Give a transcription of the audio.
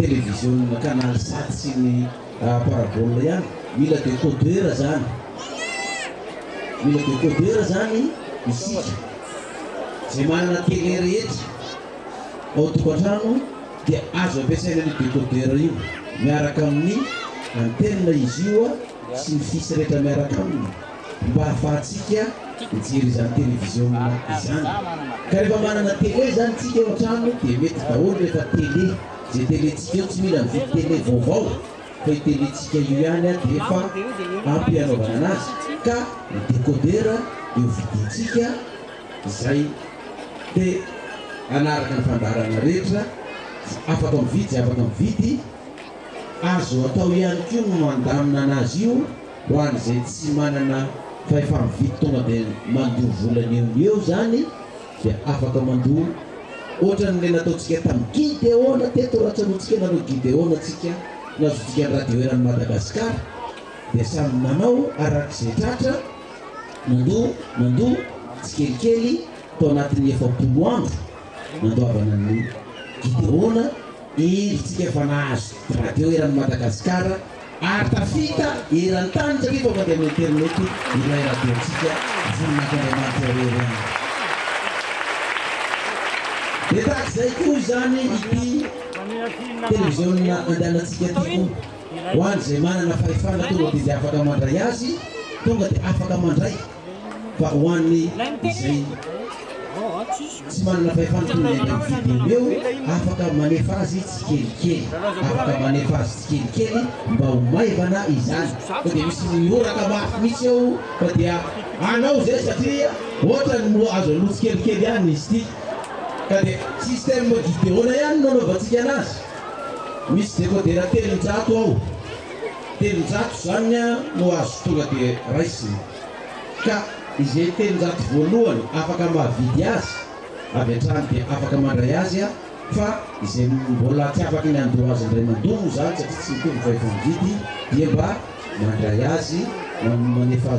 televiziona canal sat sy ny parabole ihany mila decoder zany mila decoder zany isika zay manana tele rehetra ao tokantrano dia azo ampiasaina an'io decoder io miaraka amin'ny antenne izy io sy ny fils rehetra miaraka aminy mba hahafahantsika mijery izany televiziona izany. Ka rehefa manana tele izany tsika eo an-trano dia mety daholo rehefa tele, izay tele-tsika eo tsy mila mividy tele vaovao fa io tele-tsika io ihany dia efa ampy hanaovana anazy. Ka ny decoder eo vidintsika izay te hanaraka ny fandaharana rehetra dia afaka mividy izay afaka mividy. Azo atao ihany koa ny mandamina anazy io Ho an'izay tsy manana fahefa-mividy tonga dia mandoa vola ny eo ny eo izany dia afaka mandoa ohatran'ilay nataontsika tamin'ny Gideona teto raha tsanontsika nareo Gideona tsika nazontsikany radio eran'i Madagascar dia samy nanao arak'izay tratra nandoa nandoa tsikelikely tao anatin'ny efapolo andro nandoavana ny Gideona iry tsika fa nahazo radio eran'i Madagascar ary tafita eran-tany satria tonga dia amin'ny internet ilay radio-ntsika Voninahitr' Andriamanitra irery ihany. Dia tahaka izay koa izany ity televiziona andehanantsika ity koa, ho an'izay manana fahefana tonga dia dia afaka mandray azy, tonga dia afaka mandray. fa ho an'ny izay tsy manana fahefana toy ny any amin'ny vidéo eo, afaka manefa azy tsikelikely, afaka manefa azy tsikelikely mba ho maivana izany, fa dia misy mihoraka mafy mihitsy eo fa dia anao izay satria ohatrany mbo azo aloha tsikelikely ihany izy ity, ka dia système d'idéo-na ihany no anaovantsika anazy, misy décodera telonjato ao. Telonjato izany no azo tonga dia raisina, ka izay telonjato voalohany afaka mahavidy azy avy hatrany dia afaka mandray azy aho, fa izay mbola tsy afaky ny handoa azy indray mandoa moa izany satria tsy mitovy fahefamividy dia mba mandray azy, manefa azy.